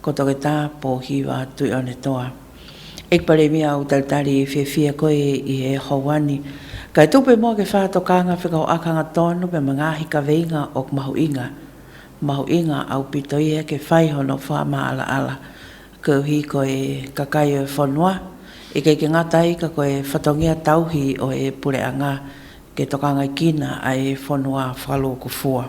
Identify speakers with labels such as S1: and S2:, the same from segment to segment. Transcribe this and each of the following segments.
S1: Ko toke ta, po hiwa tui one toa. Ik pare mi au tau tari i whiawhia koe i he houani. Kai tope mo ke wha to kanga whekau akanga tonu me mangahi ka veinga ok mahu inga. Mahu inga au pito ia ke whaiho no wha ma ala ala. Keu hi koe ka kai oe whonua. Ik eke ngata i ka koe whatongia tauhi o e pure anga ke tokangai kina a e whonua whaloku fua.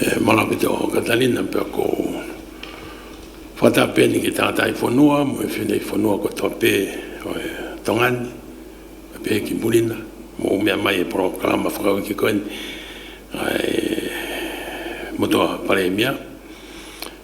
S1: E
S2: mana ki te oho Katarina pea ko Whataapeni ki tātai whanua mo e whenei whanua ko toa pē oe Tongani me pēhi ki Murina mo o mea mai e porokarama whakau ki koe ni ai mo toa paremia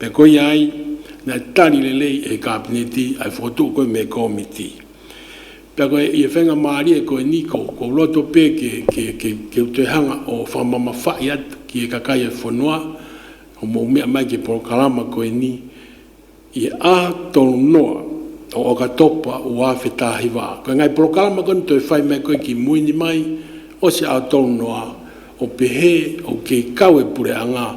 S2: E koia ai, na e tari lelei e Kapeneti, ai fotou koe me Komiti. Pea koe i e whenga maari e koe ni ko kou roto pe ke, ke, ke, ke utoihanga o whamama whai atu ki e kakai e whanoa, o mou mea mai ke porokarama koe ni, i e aha tonu noa o oka topa u awhe tahi wa. Koe ngai porokarama koe ni toi whai mai koe ki mui ni mai, o se ao tonu noa, o pehe, o kei kau e pure anga,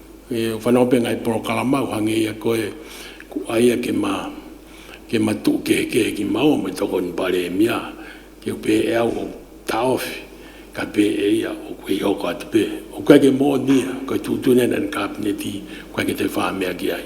S2: He whanaopenga e porokarama au hange ia koe ko aia ke ma ke ma tu ke heke heki mau me toko ni pare e mia ke upe e au o taofi ka pe e ia o koe i hoko atu pe o koe ke mo nia koe tu tu nena ni kapineti koe ke te wha mea ki ai.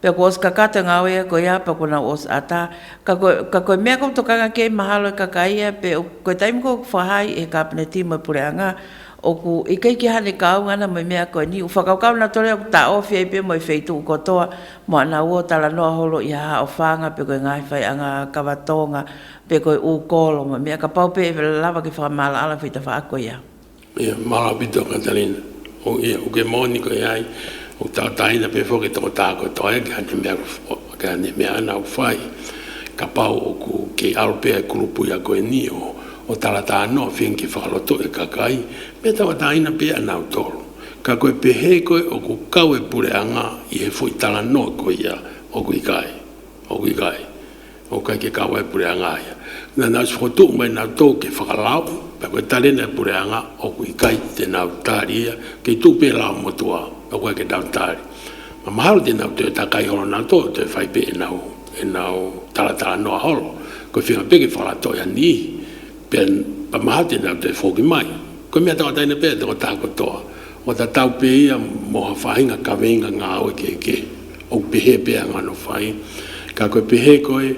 S1: Pea ko Oskaka te ngao e koe a, pea kona Os ata, ka koe, ka koe mea kou tokanga kei mahalo e kakaia, pe o koe taimi kou whahai he kapene ti moe pure anga, oku i kei ki hane kaunga ana moe mea koe ni, u whakaukau na tore oku ta o fiai pe moe fei tuku kotoa, mo ana uo tala noa holo i haha o whanga pe koe ngahi whai anga a kawa tonga, pe koe u kolo moe mea ka pau pe e whela lava ki whakamaala ala fei ta wha koe ia. E Marapito
S2: Katarina, o ia, ko ke moni ko e ai, o Tataina pe foki toko takoto ai ke ane mea, ke ane mea ana u whai, ka pau oku kei Alpea e kurupui aku e ni o, o Tarata ano a Finki whakaloto e Kakai, me taua taina pe ana u toro. Ka koe pehe koe oku kawe pure anga i he fui tara noa ko ia, oku i kai, oku i kai. Ko kai ke kawa e pureanga aia. Na nau whakatū mai nau tō ke whakarao, pea koe tare nei pureanga oku i kai te nau tāri ia, kei tū pērā o Motuā, na koe ke nau tāri. Ma mahalo te nau tō e takai horo nau tō tō e whai pē e nau, e nau taratara noa horo, koe whenga pē ke whakaratoiani i. Pea ka maha tēnā te whōki mai. Kua mea taua teina pea te o tāku katoa, o ta tau pē ia mō ha whāinga ka weinga ngā awe kē kē. Oku pehē pea ngā no whai. Ka koe pehē koe,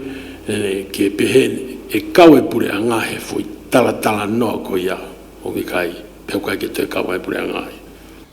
S2: ke pehē e kawe pure a Ngahe whoi taratara noa koia hoki kai, pea kai ke toi kawa e pure a Ngahe.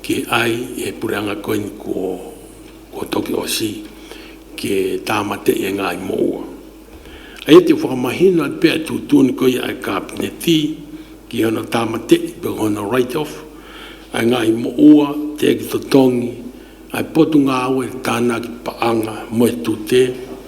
S2: Ki ai e pure anga koe ni ko ko toki o si ke tamate i e ngai mo ua. Aia te whakamahina i pea tu tuni koe i ai kapne ti ki ona tamate i pe hona right off ai ngai mo ua te ki to tongi ai potu nga awe tana ki pa anga mo e tu te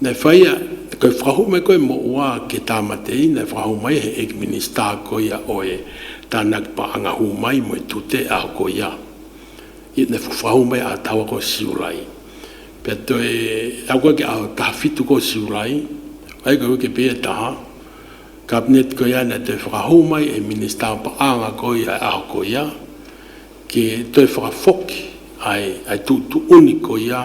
S2: Nei whaia, kei whakahu mai koe mo ua ke Tamatei, nei whakahu mai he Egg Minister ko ia oe, ta Nagpa anga hu mai mo i tute a ko ia. Ia nei whakahu mai a taua ko Siurai. Pea toe a koe ke aho taha whitu ko Siurai, ai koe ke pea taha, Cabinet ko ia nei toe whakahu mai he Minister pa anga ko ia e aho ko ia, ke toe whakafoki, ai, ai tu tu uni ko ia,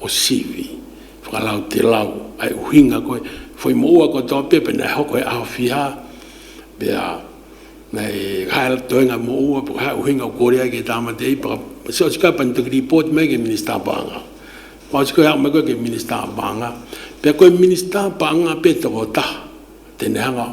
S2: O Sivi, whakarau te lau, hai uhinga koe, whai mo ua koe toa pia pena e hoko e Awhia, pea, nei, hai toenga mo ua, whakahai uhinga o Korea ki Tamatei, whaka, so it's open to report mai ke Minista Paanga. Whai siko e au mai koe ke Minista Paanga, pea koe Minista Paanga pea toko taha, tenehanga,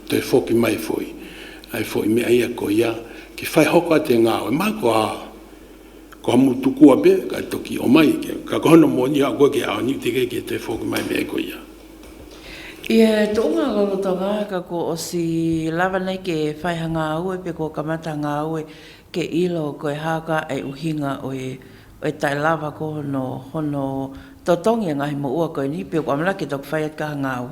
S2: Te Whoki Mai Whoi, ai fo i mea ia ko ia ki whai hoko a te ngawe mai ko a ko a mutu kua be kai toki o mai ke ka ko hono moni a koe ke a niu te keke te whoki mai mea ko ia. I a
S1: to nga lolo to nga ka ko o si lava nei ke whai ha nga aue pe ko ka mata nga aue ke ilo ko e haka e u hinga o e o e tai lava ko hono hono to tongi a ngahi mo ua koe ni pe ko amala ke toki whai at ka ha nga aue.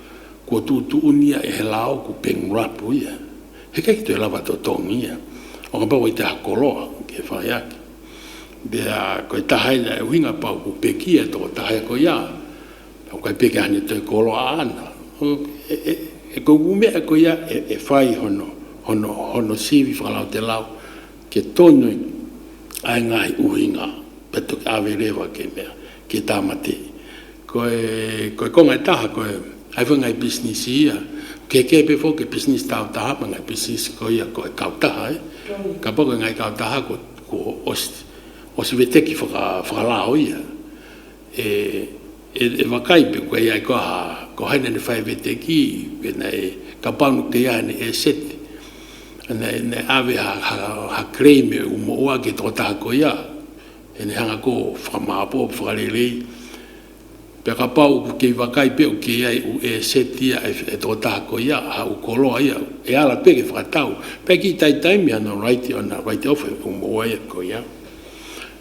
S2: Kua tūtūngia e He Lao ko Peng Rapu ia. He kei te lawa tō Tong ia. O ka pau i te ako loa kia whai ake. There are koi tahaina e uhinga pau ko Peki e tō tahae koi a. Pau kai Peki ahane toi koloa ana. E koi ū mea koi a e whai hono, hono, hono Sivi whakalao te lao kia tō nui ai ngahi uhinga. Patu ke awe rewa ke mea. Ki Tamati. Koe, koe ko ngai taha koe, hai wha ngai business i ia. Ke kepe fo ke business tau taha pa ngai business ko ia koe kau taha e. Ka pa koe ngai kau taha ko, ko osi, osi we teki whaka, whakalao ia. E, e, e wha kai pe koe ai koe ha, ko haina ni whai we teki, we nei, ka panu ke ia ni e set. Nei, nei, awe ha, ha, ha claim e u mo ua ke to taha ko ia. E ne hanga ko whakamahapo whakarerei pea ka pau ku kei wakai pea u kei ai u e set ia e to tahako ia a u koroa ia e ara pea ki whakatau pea ki taitai mea no raite ona raite ofa e ku mo ai ko ia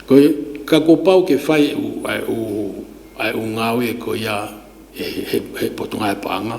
S2: ko ka ko pau ke whai u ai u ai u ngawe ko ia he potonga e panga.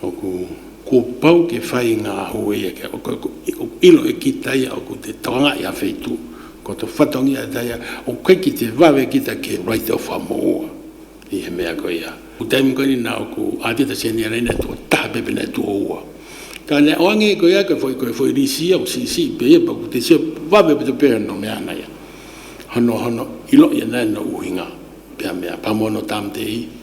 S2: Oku ko pau ke whai i nga aho e ia kia oku ilo e kita ia oku te tawanga i a Whetu ko to whatongi a Daia o kai ki te wawe ki ta ke wai te owha mo oa i he mea ko ia oku taimu kani na oku atita senia raina to taha pepena to oa ka na oa nge ko ia ko whoi ko whoi risi ia o sisi pe ia pa ku te sio wawe pa to pe no me ana ia hono hono ilo ia na no uhinga pe a mea pa mono tam te i.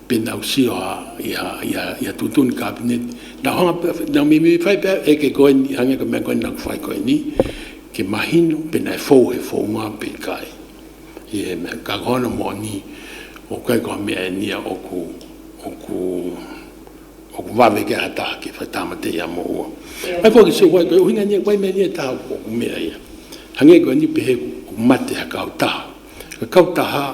S2: Pēnā usio a, ia, ia, ia tūtoni kāpeneti, nā hanga pea, nā me, me whai pea eke koe ni, hanga ka mea koe nā ka whai koe ni, ke mahino, pēnā e fou, he fou ngā pei kai. Ia he mea, ka koana mō ni, o koe ka mea e ni a oku, oku, oku wawe ke aha taha ke whai tāmate ia mō ua. Mai koe ki sio wai koe, uhinga nia koe mea nia taha oku, oku mea ia. Hanga koe ni pehe oku mate ha kau taha, ka kau taha,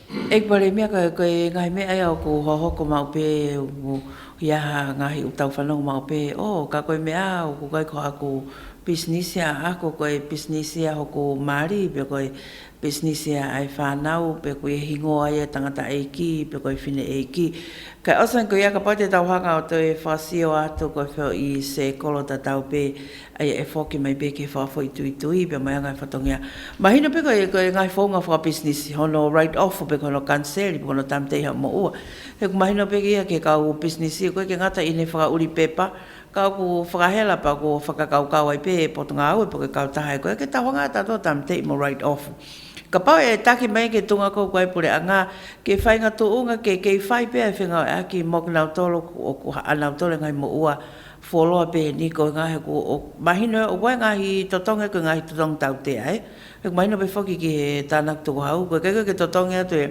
S2: Eg
S1: ware mea ka koe e ngahi mea e au ko hoho ko ma ope o ia ha ngahi o tau whanau ma ope o ka koe mea au ko kai ko aku business ia a ko koe business ia ho ko mari pe koe business ia ai whanau pe koe e hingo ai e tangata e iki pe koe fine e iki kai osan ko ia ka pai te tau hanga o toi e whasio a to koe wheo i se kolo ta tau pe Aia e whoki mai be ke wha whoi tui tui be mai a ngai whatongia. Mahina be koe e ngai whounga wha business hono write off be kono cancel be kono tam te iha mo ua. He ku mahina be kia ke kau u business i koe ke ngata i ne whaka uri pepa kau ku whakahela pa ku whakakau kau ai be e potonga au e poke kau taha e koe ke tawanga ta to tam te mo write off. Ka pau e taki mai ke tunga kou ku ai pure a nga ke whainga tu unga ke kei whai be ai whenga o e aki mo ke nau tolo ku o ku ha a nau tolo e ngai mo ua Fo loa peheni ko nga he ko o mahina o koe nga hi totonge ko nga hi totonge tau tea e he ko mahina pe foki ki he tanaku toko hau koe kei koe ke totonge atu e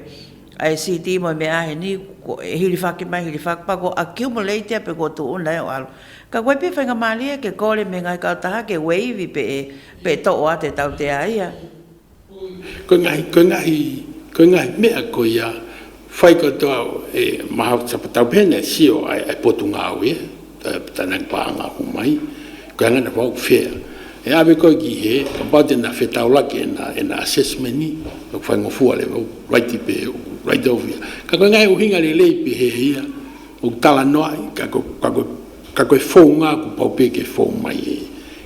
S1: a CT mo me a he ni ko e hiri fake mai hiri fake pa ko accumulate a pe ko tu una e o alo ka koe pe whainga mali e ke kore me nga hi kau taha ke wave pe e pe to o a te tau tea ia.
S2: Ko ngā mea ko ia, whai katoa e Mahau Tapatau pēnei, sio ai e Potungāoe, tana name pa anga ako mai, ko Angana Whau Whea. E awe koe ki he, about ena whetaolaki, ena assessment ni, ko Whaingofua le wau, right i pēhea, right of ia. Ka koe ngahe o hinga lelei i pēhea ia, o tala noa ai, ka koe whou ngā ku pau pēke whou mai e.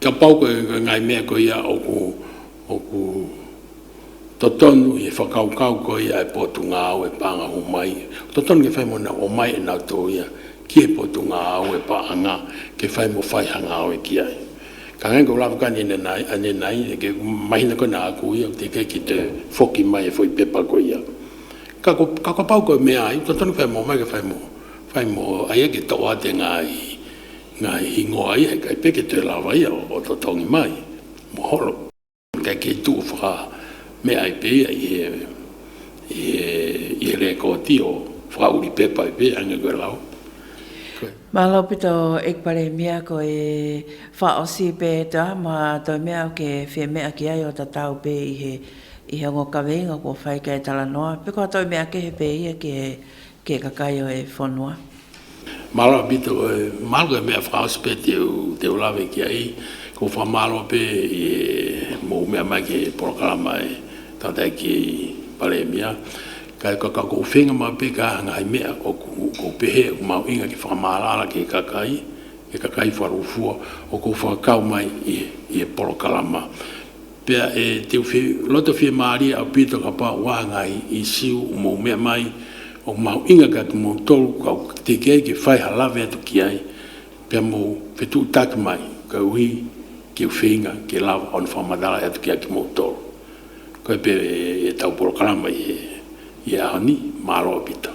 S1: Ka pau koe i
S2: nga ngai mea ko ia oku oku to tonu i whakaukau ko ia e Potungāau e pānga hu mai to tonu ke whai mo na o mai e nau to ia ki e Potungāau e pa anga ke whai mo whai hanga au e ki ai ka ngai ko Ravaka ni na nai a ni nai ke mahina ko na aku ia te ke ki te foki mai e fo i pepa ko ia ka ko ka ka pau ko mea ai to tonu whai mo mai ke whai mo whai mo ai ke to a te ngai Nga ingoa ia kai peke te rawaia o to tongi mai, mohoro. Kai kei tu whaka mea ai peia i he i he re koti o whaka uri pepa ai peia nga koe lao. Koe.
S1: Malo pi to ekpare mia ko e wha o si pe e ta ma to mea o ke fe mea ki ai o ta tau pe i he i he ngo kaweinga ko whai kai tala noa pe ko to mea ke he peia ki he Ke kakaio e whanua. Marawa
S2: pito e malu e mea whakauspe te ulawe ki a i ko wha maro pe e mou mea mai ke porokarama e tata e ki pare e mea kai ka ka ko whenga ma pe ka hanga hai mea ko ko pehe ko mau inga ki whakamara ara ke kakai ke kakai wha rufua o ko wha kau mai i e porokarama Pea e te uwhi roto whie māria a Pita ka pā wāhanga i i siu o mōu mea mai, o māu inga ka ki mōu tolu ka uka ki te kei ki whai ha lawe atu ki ai, pea mōu whetū taki mai ka uhi ki uwhiinga ki lawa ona wha manarai atu ki ai ki mōu tolu. Koe pea e tau porokarama i e Ahoni, māro a Pita.